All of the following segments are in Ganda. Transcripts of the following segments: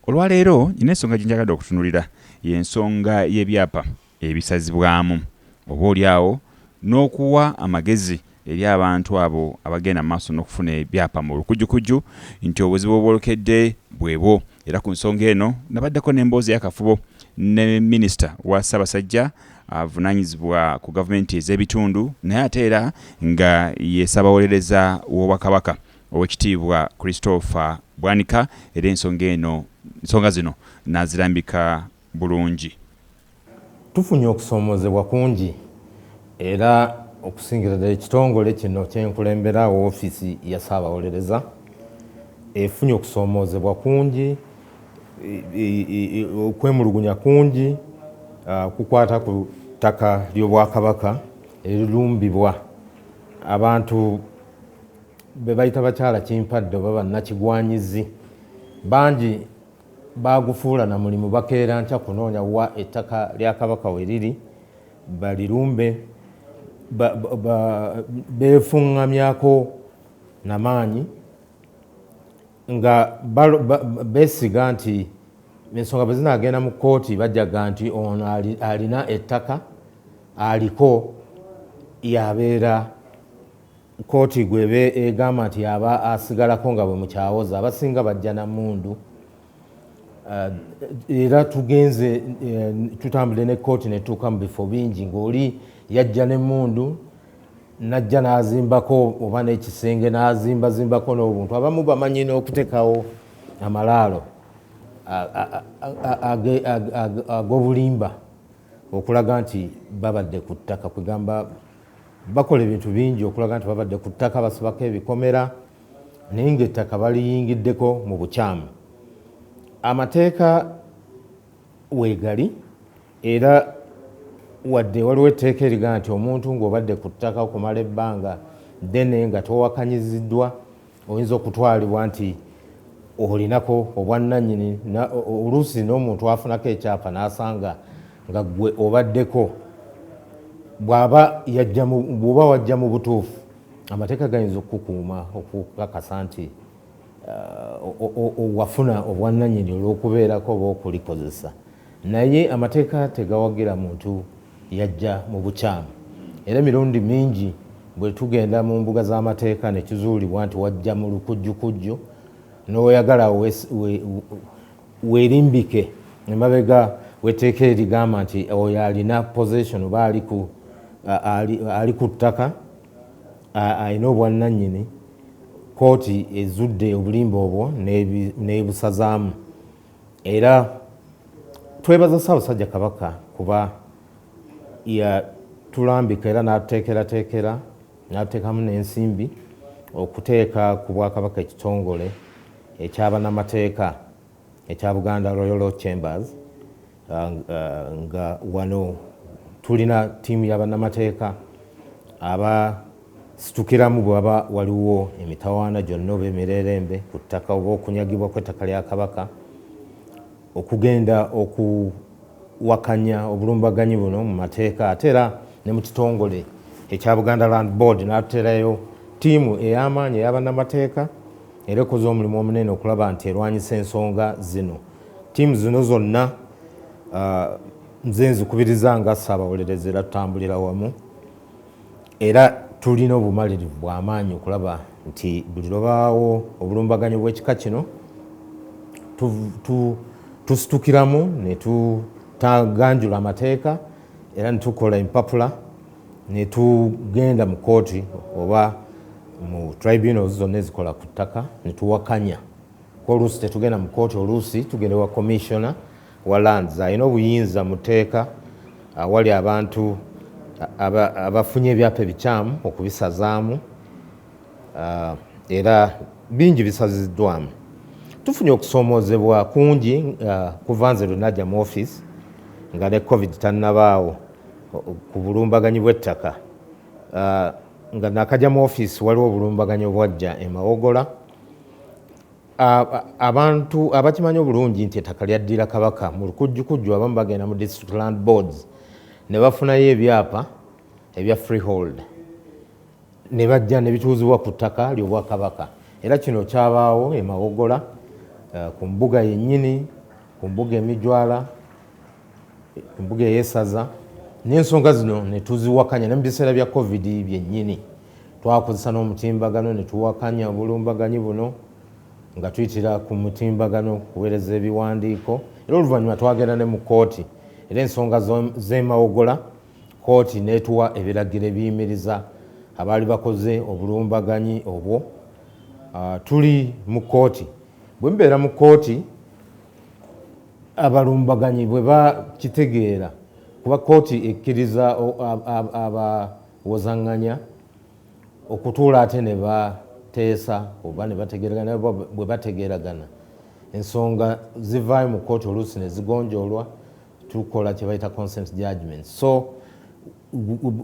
Olwaleero nina ensonga gye njagadde okutunulira y'ensonga y'ebyapa ebisazibwamu oba oli awo n'okuwa amagezi eri abantu abo abagenda maaso n'okufuna ebyapa mu lukujukujju nti obuzibu obwolekedde bwebwo era ku nsonga eno nabaddeko n'emboozi eyakafubo ne minisita wa Ssaabasajja avunanyizibwa ku gavumenti ez'ebitundu naye ate era nga ye Ssaabawolereza w'Obwakabaka Owekitiibwa Christopher Bwanika era ensonga eno nsonga zino nazirambika bulungi. Tufunye okusoomozebwa kungi era okusingira ddala ekitongole kino kyenkulembera woofiisi ya Ssaabawolereza efunye okusoomoozebwa kungi, okwemulugunya kungi okukwata ku ttaka ly'Obwakabaka erirumbibwa abantu. be bayita bakyala kimpadde oba bannakigwanyizi bangi baagufuula na mulimu bakeera nkya kunoonya wa ettaka lya kabaka we liri balirumbe beefuŋŋamyako namaanyi nga beesiga nti ensonga bwe zinaagenda mu kkooti bajaga nti ono alina ettaka aliko yabeera Kkooti gw'eba egamba nti y'aba asigalako nga bwe mukyawoza abasinga bajja na mmundu era tugenze tutambudde ne kkooti ne tutuuka mu bifo bingi ng'oli yajja n'emmundu najja n'azimbako oba n'ekisenge n'azimbazimbako n'obuntu abamu bamanyi n'okuteekawo amalaalo ag'obulimba okulaga nti babadde ku ttaka kwegamba Bakola ebintu bingi okulaga nti babadde ku ttaka basibako ebikomera naye ng'ettaka baliyingiddeko mu bukyamu. Amateeka weegali era wadde waliwo etteeka erigaa nti omuntu ng'obadde ku ttaka okumala ebbanga ddene nga towakanyiziddwa, oyinza okutwalibwa nti olinako obwannanyini oluusi n'omuntu afunako ekyapa n'asanga nga gwe obaddeko bwaba bwoba wajja mu butuufu amateeka gayinza okukukuuma okukakasa nti uh, wafuna obwannanyini olw'okubeerako oba okulikozesa Naye amateeka tegawagira muntu yajja mu bukyamu. Era emirundi mingi bwe tugenda mu mbuga z'amateeka ne kizuulibwa nti wajja mu lukujjukujju, n'oyagala awo weerimbike emabega w'etteeka erigamba nti oyo alina possession oba ali ku ttaka alina obwannannyini, kkooti ezudde obulimba obwo n'ebusazaamu. Era twebaza Ssaabasajja Kabaka kuba yatulambika era n'atuteekerateekera n'atuteekamu n'ensimbi okuteeka ku Bwakabaka ekitongole ekya bannamateeka ekya Buganda Royal Law Chambers. nga wano tulina ttiimu ya bannamateeka abasitukiramu bwe waba waliwo emitawaana gyonna oba emirerembe ku ttaka oba okunyagibwa kw'ettaka lya Kabaka okugenda okuwakanya obulumbaganyi buno mu mateeka ate era ne mu kitongole ekya Buganda Land Board n'atuterayo ttiimu ey'amaanyi eya bannamateeka era ekoze omulimu omunene okulaba nti erwanyisa ensonga zino. Ttiimu zino zonna nze nzikubiriza nga ssaabawolereza era tutambulira wamu era tulina obumalirivu bw'amaanyi okulaba nti buli lwebaawo obulumbaganyi bw'ekika kino tusitukiramu ne tutaganjula amateeka era ne tukola empapula ne tugenda mu kooti oba mu tribunals zonna ezikola ku ttaka ne tuwakanya oluusi tetugenda mu kooti oluusi tugenda wa commissiona wa lands alina obuyinza mu tteeka awali abantu abafunye ebyapa ebikyamu okubisazaamu era bingi bisaziddwamu tufunye okusoomoozebwa kungi kuva nze lwenajja mu office nga ne covid tannabaawo ku bulumbaganyi bw'ettaka nga nakajja mu office waliwo obulumbaganyi obwajja emawogola Abantu abakimanyi obulungi nti ettaka lyaddira Kabaka mu lukujjukujju abamu bagenda mu District Land Boards ne bafunayo ebyapa ebya Freehold ne bajja ne bituuzibwa ku ttaka ly'Obwakabaka era kino kyabaawo e Mawogola ku mbuga yennyini, ku mbuga e Mijwala. embuga eyesaza nensonga zino netuziwakanya ne mu biseera bya covid byennyini twakozesa n'omutimbagano ne tuwakanya obulumbaganyi buno nga tuyitira ku mutimbagano kuweereza ebiwandiiko era oluvannyuma twagenda ne mu kkooti era ensonga z'emawogola kkooti n'etuwa ebiragiro ebiyimiriza abaali bakoze obulumbaganyi obwo ah, tuli mu kkooti bwe mubeera mu kkooti abalumbaganyi bwe bakitegeera kuba kkooti ekkiriza abawozanganya okutuula ate ne bateesa oba ne bategeeragana bwe bategeeragana ensonga zivaayo mu kkooti oluusi ne zigonjoolwa tukola kye bayita consent judgment so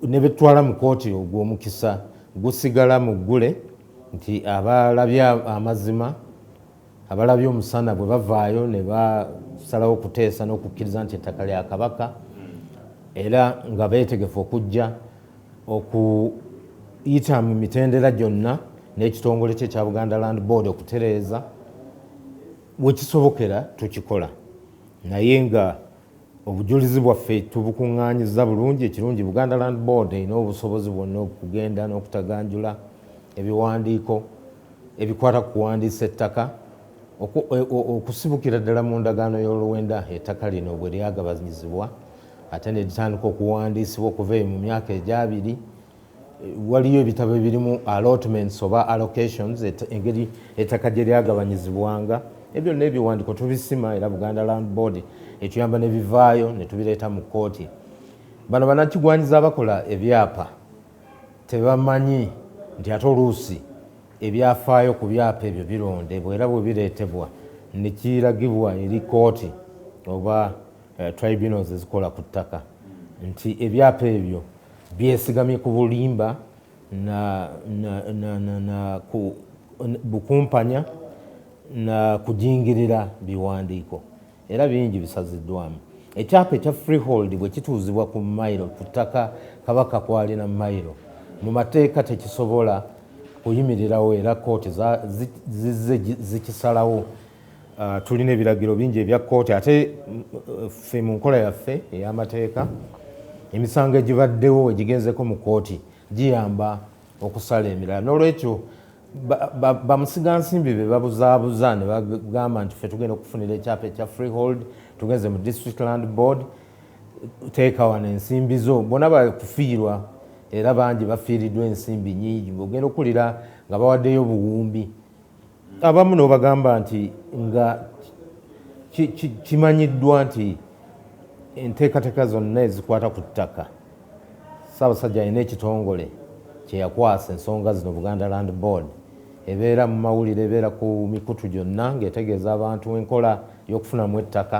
ne betutwala mu kkooti ogwo omukisa gusigala mu ggule nti abalabye amazima Abalabye omusana bwe bavaayo ne basalawo okuteesa n'okukkiriza nti ettaka lya Kabaka era nga beetegefu okujja okuyita mu mitendera gyonna n'ekitongole kye kya Buganda Land Board okutereeza we kisobokera tukikola naye nga Obujulizi bwaffe tubukungaanyizza bulungi, ekirungi Buganda Land Board erina obusobozi bwonna okugenda n'okutaganjula ebiwandiiko ebikwata ku kuwandiisa ettaka okusibukira ddala mu ndagaano y'oluwenda ettaka lino bwe lyagabanyizibwa ate ne litandika okuwandiisibwa okuva eyo mu myaka egyabiri waliyo ebitabo ebirimu allotments oba allocations engeri ettaka gye lyagabanyizibwanga ebyo byonna ebiwandiko tubisima era buganda land board etuyamba nebivaayo netubireeta mu kkooti bano banakigwanyiza abakola ebyapa tebamanyi nti ate oluusi ebyafaayo ku byapa ebyo birondebwa era bwe bireetebwa nekiragibwa eri kkooti oba eh, tribunals ezikola ku ttaka nti ebyapa ebyo byesigamye ku bulimba na, na, na, na, na ku bukumpanya na kujingirira biwandiiko era bingi bisaziddwamu ekyapa ekya freehold bwe kituuzibwa ku mailo ku ttaka kabaka kwalina mailo mu mateeka tekisobola kuyimirirawo era kooti zizze zikisalawo Ah, tulina ebiragiro bingi ebya kkooti ate ffe mu nkola yaffe ey'amateeka emisango egibaddewo egigenzeko mu kkooti giyamba okusala emirala n'olwekyo bamusigansimbi be babuzaabuza ne bagamba nti ffe tugenda okufunira ekyapa ekya freehold tugenze mu district land board teekawana ensimbi zo bona bakufiirwa era bangi bafiiriddwa ensimbi nyingi ogenda okuwulira nga bawaddeyo obuwumbi abamu nobagamba nti nga kimanyiddwa nti enteekateeka zonna ezikwata ku ttaka ssaabasajja alina ekitongole kyeyakwasa ensonga zino buganda land board ebeera mu mawulire ebeera ku mikutu gyonna ngaetegeeza abantu enkola y'okufunamu ettaka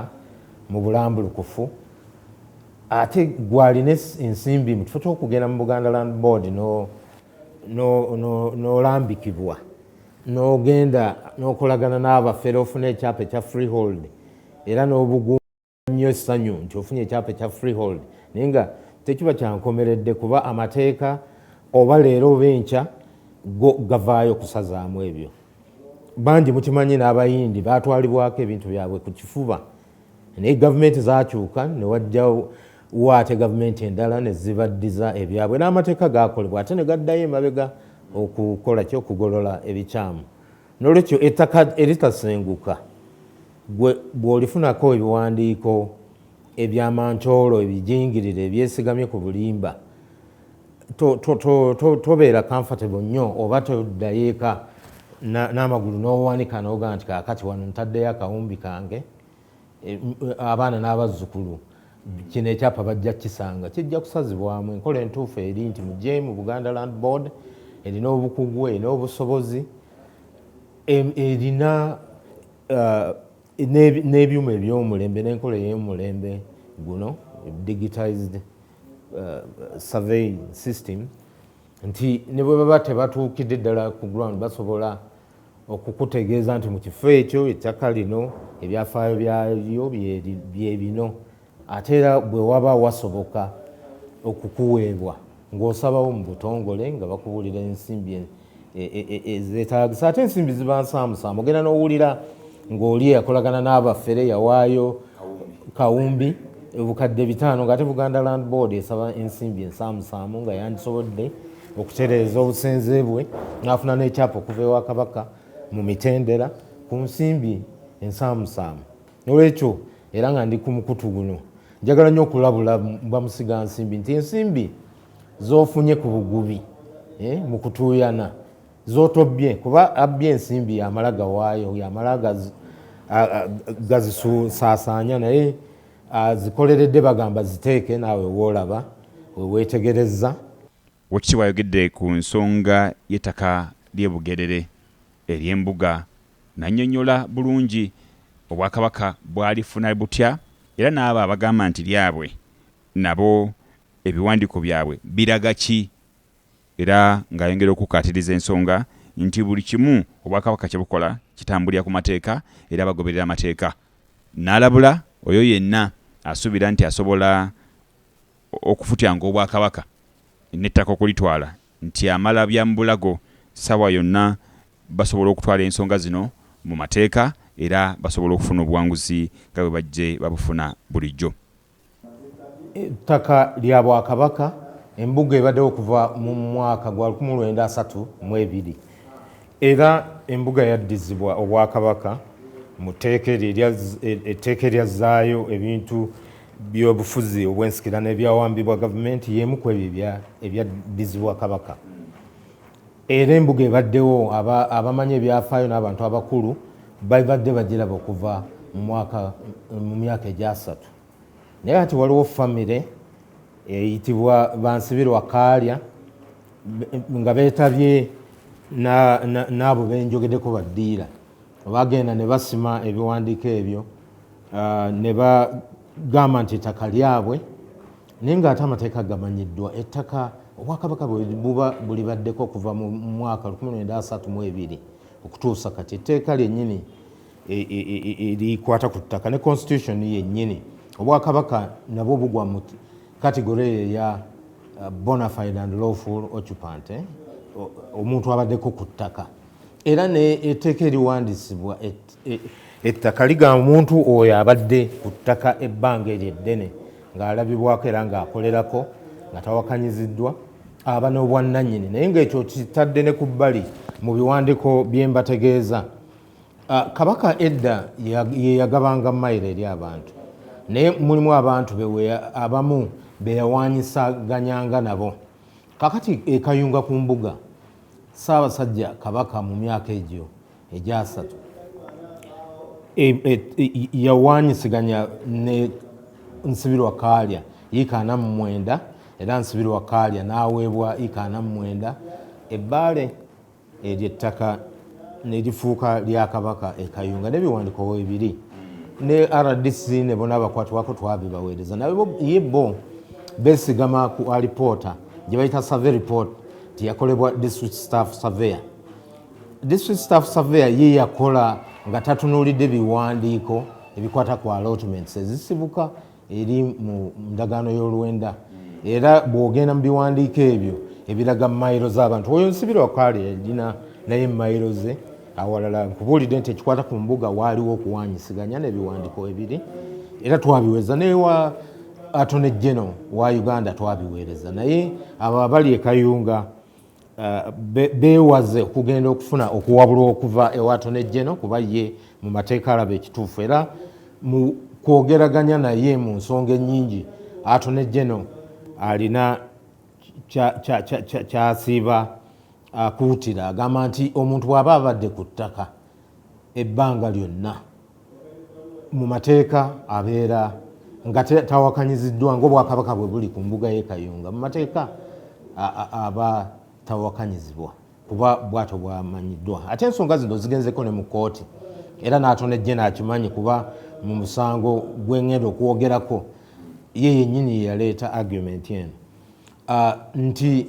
mu bulambulukufu ate gwalina ensimbi mutufete okugenda mu buganda land board no n'olambikibwa n'ogenda n'okolagana n'abafere ofuna ekyapa ekya freehold era n'obugumu nnyo essanyu nti ofunye ekyapa ekya freehold naye nga tekiba kyankomeredde kuba amateeka oba leero oba enkya go gavaayo kusazaamu ebyo bangi mukimanyi n'abayindi baatwalibwako ebintu byabwe ku kifuba naye gavumenti zakyuka newajjawo wo ate gavumenti endala ne zibaddiza ebyabwe n'amateeka gaakolebwa ate ne gaddayo emabega okukola ki okugolola ebikyamu n'olwekyo ettaka eritasenguka gwe bw'olifunako ebiwandiiko ebyamancoolo ebijingirire ebyesigamye ku bulimba tobeera comfortable nnyo oba toddayo eka n'amagulu n'owanika n'oga nti kaakati wano ntaddeyo akawumbi kange Eh, eh, abaana n'abazzukulu kino ekyapa bajja kukisanga kijja kusazibwamu enkola entuufu eri nti mujemu buganda land board erina obukugu erina obusobozi erina eh, n'ebyuma ebyomulembe n'enkola ey'omulembe guno digitized survey system nti ne bwe baba tebatuukidde ddala ku ground basobola okukutegeeza nti mu kifo ekyo ettaka lino ebyafaayo byalyo bye bino ate era bwe waba wasoboka okukuweebwa ng'osabawo mu butongole nga bakubuulira ensimbi e, e, e, ezeetaagisa ate ensimbi ziba nsaamusaamu ogenda n'owulira ng'oli eyakolagana n'abafere yawaayo kawumbi obukadde bitaano ng'ate buganda land board esaba ensimbi ensaamusaamu nga yandisobodde okutereeza obusenze bwe n'afuna n'ekyapa okuva ewa kabaka mu mitendera ku nsimbi ensaamusaamu nolwekyo era nga ndi ku mukutu guno njagala nnyo okulabula bamusiga nsimbi nti ensimbi zofunye ku bugubi eh, mu kutuuyana zotobbye kuba abbye ensimbi yamala gawaayo yamala gazisaasaanya naye azikoleredde bagamba ziteeke naawe woolaba we weetegerezza. Oweekitiibwa ayogedde ku nsonga y'ettaka ly'e Bugerere ery'embuga n'annyonnyola bulungi Obwakabaka bwalifuna butya era n'abo abagamba nti lyabwe nabo ebiwandiiko byabwe biraga ki era ng'ayongera okukkaatiriza ensonga nti buli kimu Obwakabaka kye bukola kitambulira ku mateeka era bagoberera amateeka n'alabula oyo yenna asuubira nti asobola okufutyanga Obwakabaka n'ettaka okulitwala nti amala bya mu bulago ssaawa yonna basobola okutwala ensonga zino mu mateeka era basobola okufuna obuwanguzi nga bwe bajje babufuna bulijjo. Ettaka lya Bwakabaka, Embuga ebaddewo okuva mu mwaka gwa lukumi mu lwenda asatu mu ebiri era Embuga yaddizibwa Obwakabaka mu tteeka eryo erya etteeka eryazzaayo ebintu by'obufuzi obw'ensikirano ebyawambibwa gavumenti y'emu kw'ebyo ebyaddizibwa Kabaka. Era embuga ebaddewo aba abamanyi ebyafaayo n'abantu abakulu babadde bagiraba okuva mu mwaka mu myaka egyasatu naye kati waliwo famire eyitibwa Bansibirwa Kaalya nga beetabye n'abo benjogedeko baddiira bagenda ne basima ebiwandiiko ebyo ne bagamba nti ettaka lyabwe naye ng'ate amateeka gamanyiddwa ettaka obwakabaka buba bulibaddeko okuva mu mwaka 1932 okutuusa kati etteeka lyennyini e, e, e, erikwata ku ttaka ne constitution yennyini obwakabaka nabwo bugwa mu kategore eyo eya uh, bonafide and lawful occupant eh? omuntu abaddeko ku ttaka era ne etteeka eriwandisibwa E, ettaka liga omuntu oyo abadde ku ttaka ebbanga eryo eddene ng'alabibwako era ng'akolerako nga tawakanyiziddwa aba n'obwannannyini naye ng'ekyo kitadde ne ku bbali mu biwandiiko bye mbategeeza ah, kabaka edda ye yagabanga mayiro eri abantu naye mulimu abantu bewe abamu be yawaanyisaganyanga nabo kakati ekayunga ku mbuga ssaabasajja kabaka mu myaka egyo egyasatu e, e, e, yawanyisiganya ne nsibirwa kaalya yiika ana mu mwenda era nsibirwa kaalya n'aweebwa yiika ana mu mwenda ebbaale eryo ettaka nerifuuka lya kabaka ekayunga nebiwandiko webiri ne rdc ne bona abakwatibwako twabibaweereza naye bo besigama ku alipoota gye bayita survey report nti yakolebwa district staff surveyor district staff surveyor ye yakola nga tatunuulidde biwandiiko ebikwata ku allotments ezisibuka eri mu ndagaano y'oluwenda era bw'ogenda mu biwandiiko ebyo ebiraga mayiro z'abantu oyo nsibira wakaali yalina naye mayiro ze awalala nkubuulidde nti ekikwata ku mbuga waaliwo okuwanyisiganya n'ebiwandiiko ebiri era twabiweza naye wa atone geno wa uganda twabiweereza naye abo abali ekayunga beewaze okugenda okufuna okuwabulwa okuva ewa Attorney General kuba ye mu mateeka alaba ekituufu era mu kwogeraganya naye mu nsonga ennyingi Attorney General alina kyasiiba akuutira agamba nti omuntu bw'aba abadde ku ttaka ebbanga lyonna mu mateeka abeera nga tawakanyiziddwa ngaobwakabaka bwe buli ku mbuga ye kayunga mu mateeka aba tawakanyizibwa kuba bwato bwamanyiddwa ate ensonga zino zigenzeko ne mu kooti era natona ejje nakimanyi kuba mu musango gwengenda okwogerako ye yenyini yeyaleeta argument eno ah, nti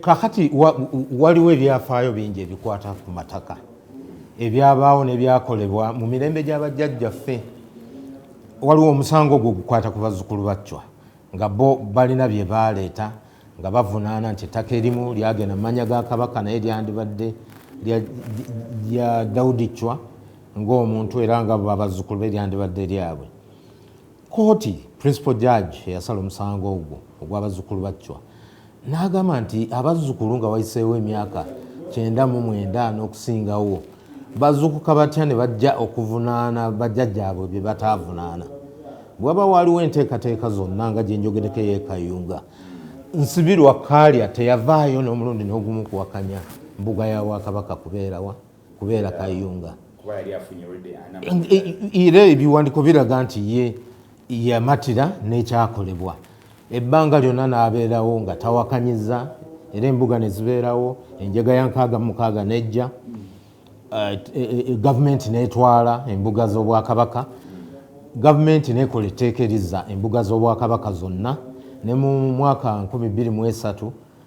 kakati waliwo ebyafaayo bingi ebikwata ku mataka ebyabaawo nebyakolebwa mu mirembe gy'abajjajjaffe waliwo omusango ogwo gukwata ku bazzukulu baccwa nga bo balina bye baaleeta nga bavunaana nti ettaka erimu lyagenda mu manya ga kabaka naye lyandibadde lya dawudi ccwa ng'omuntu era nga babazzukulu be lyandibadde lyabwe Kkooti principal judge eyasala omusango ogwo ogw'abazzukulu ba Chwa n'agamba nti abazzukulu nga wayiseewo emyaka kyenda mu mwenda n'okusingawo bazukuka batya ne bajja okuvunaana bajjajjaabwe bye bataavunaana bwe waba waaliwo enteekateeka zonna nga gye njogereko ey'ekayunga nsibirwa kaalya teyavaayo n'omulundi n'ogumu kuwakanya mbuga ya bwakabaka kubeerawa kubeera kayunga era ebiwandiko biraga nti ye yamatira n'ekyakolebwa ebbanga lyonna n'abeerawo nga tawakanyiza era embuga ne zibeerawo enjega ya nkaaga mukaaga n'ejja eh, eh, eh, gavumenti n'etwala embuga z'obwakabaka gavumenti n'ekola etteeka erizza embuga z'obwakabaka zonna ne mu mwaka 23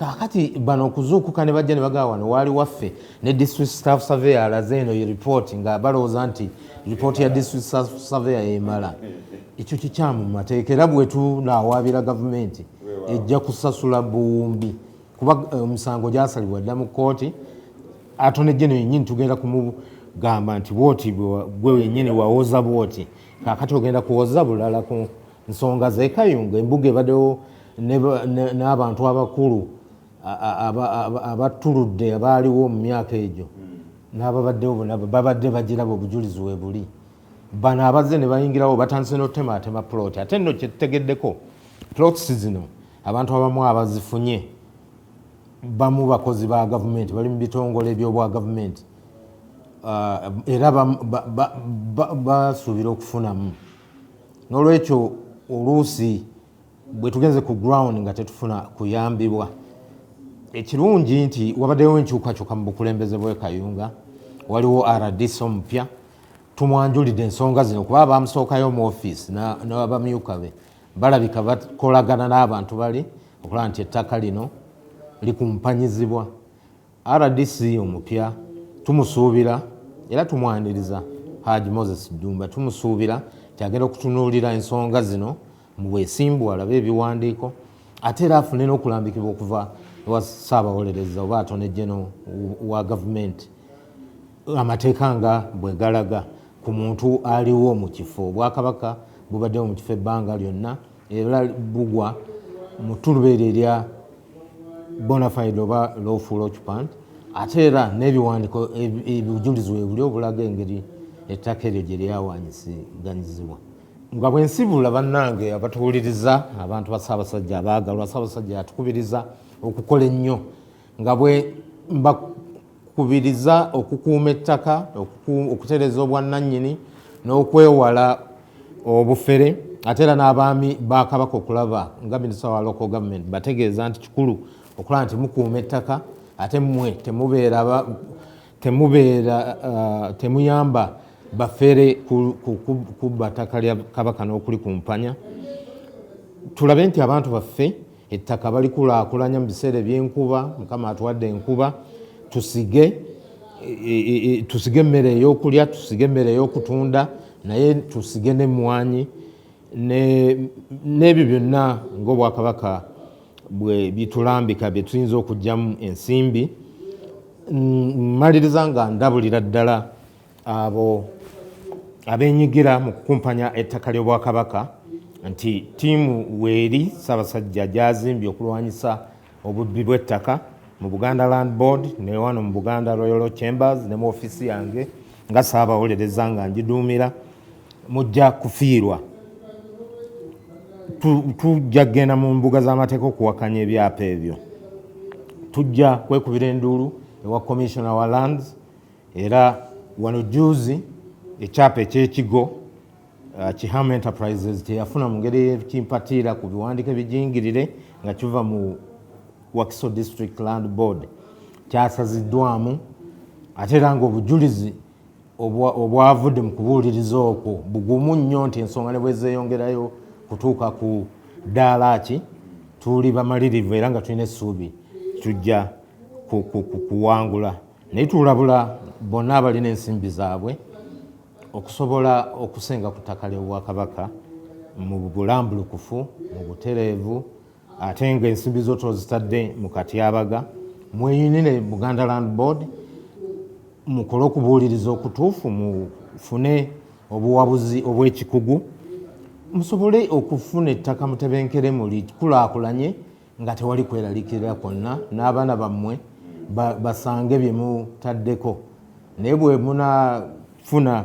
kakati bano okuzuukuka ne bajja ne bagaa wano waali waffe ne district staff survey alaze eno ye report nga balowooza nti report ya district staff survey yemala ekyo kikyamu mu mateeka era bwetunawaabira gavumenti ejja kusasula buwumbi kuba eh, omusango um, gyasalibwa dda mu kooti atone jeno yenyini tugenda kumugamba nti bwoti gwe wenyini wawoza bwoti kakati ogenda kuwoza bulala ku nsonga zekayunga embuga ebadewo n'abantu abakulu abattuludde abaaliwo mu myaka egyo n'ababaddewo bona babadde bagiraba obujulizi we buli bano abazze ne bayingirawo batandise n'otemaatema plot ate nno kyetutegeddeko plots zino abantu abamu abazifunye bamu bakozi ba gavumenti bali mu bitongole by'obwa gavumenti ah, era basuubira okufunamu n'olwekyo oluusi bwe tugenze ku ground nga tetufuna kuyambibwa ekirungi nti wabaddewo enkyukakyuka mu bukulembeze bwe kayunga waliwo rdc omupya tumwanjulidde ensonga zino kuba abamusookayo mu ofiisi nabamyuka be balabika bakolagana n'abantu bali okulaba nti ettaka lino likumpanyizibwa rdc omupya tumusuubira era tumwaniriza haji moses dumba tumusuubira nti agenda okutunuulira ensonga zino mu bwesimbu alabe ebiwandiiko ate era afune n'okulambikibwa okuva ewa ssaabawolereza oba atone geno wa gavumenti amateeka nga bwe galaga ku muntu aliwo mu kifo obwakabaka bubaddewo mu kifo ebbanga lyonna era bugwa mu tulubeera erya bonafide oba lawful occupant ate era n'ebiwandiko ebujulizi webuli obulaga engeri ettaka eryo gye lyawanyiseganyizibwa nga bwe nsibula bannange abatuwuliriza abantu ba ssaabasajja abaagalwa ssaabasajja yatukubiriza okukola ennyo nga bwe mbakubiriza okukuuma ettaka okutereeza obwannannyini n'okwewala obufere ate era n'abaami ba kabaka okulaba nga minisita wa local government bategeeza nti kikulu okulaba nti mukuuma ettaka ate mmwe temubeera Temubeera uh, temuyamba bafere kubba ttaka lya kabaka n'okulikumpanya tulabe nti abantu baffe ettaka balikulaakulanya mu biseera ebyenkuba mukama atuwadde enkuba tusige e, e, e, tusige emmere ey'okulya tusige emmere ey'okutunda naye tusige n'emmwanyi n'ebyo byonna ng'obwakabaka bwe bitulambika bye tuyinza okugyamu ensimbi mmaliriza nga ndabulira ddala abo abenyigira mu kukumpanya ettaka ly'obwakabaka nti ttiimu weeri ssaabasajja gyazimbye okulwanyisa obubbi bw'ettaka mu buganda land board ne wano mu buganda royal chambers ne mu ofiisi yange nga saabawolereza nga ngiduumira mujja kufiirwa tujja kugenda mu mbuga z'amateeka okuwakanya ebyapa ebyo tujja kwekubira enduulu ewa commissioner wa lands era wano juzi ekyapa ekyekigo uh, kiham enterprises kyeyafuna mu ngeri ekimpatiira ku biwandiiko ebijingirire nga kiva mu wakiso district land board kyasaziddwamu ate era ngaobujulizi obwavudde mu kubuuliriza okwo bugumu nnyo nti ensonga ne bwezeeyongerayo kutuuka ku ddaala ki tuli bamalirivu era nga tulina essuubi tujja kuwangula naye tulabula bonna abalina ensimbi zaabwe okusobola okusenga ku ttaka ly'obwakabaka mu bulambulukufu mu butereevu ate nga ensimbi zo tozitadde mu katyabaga mweyinire buganda land board mukole okubuuliriza okutuufu mufune obuwabuzi obwekikugu musobole okufuna ettaka mutebenkere muli kulaakulanye nga tewali kweralikirira kwonna n'abaana bammwe basange bye mutaddeko naye bwe munafuna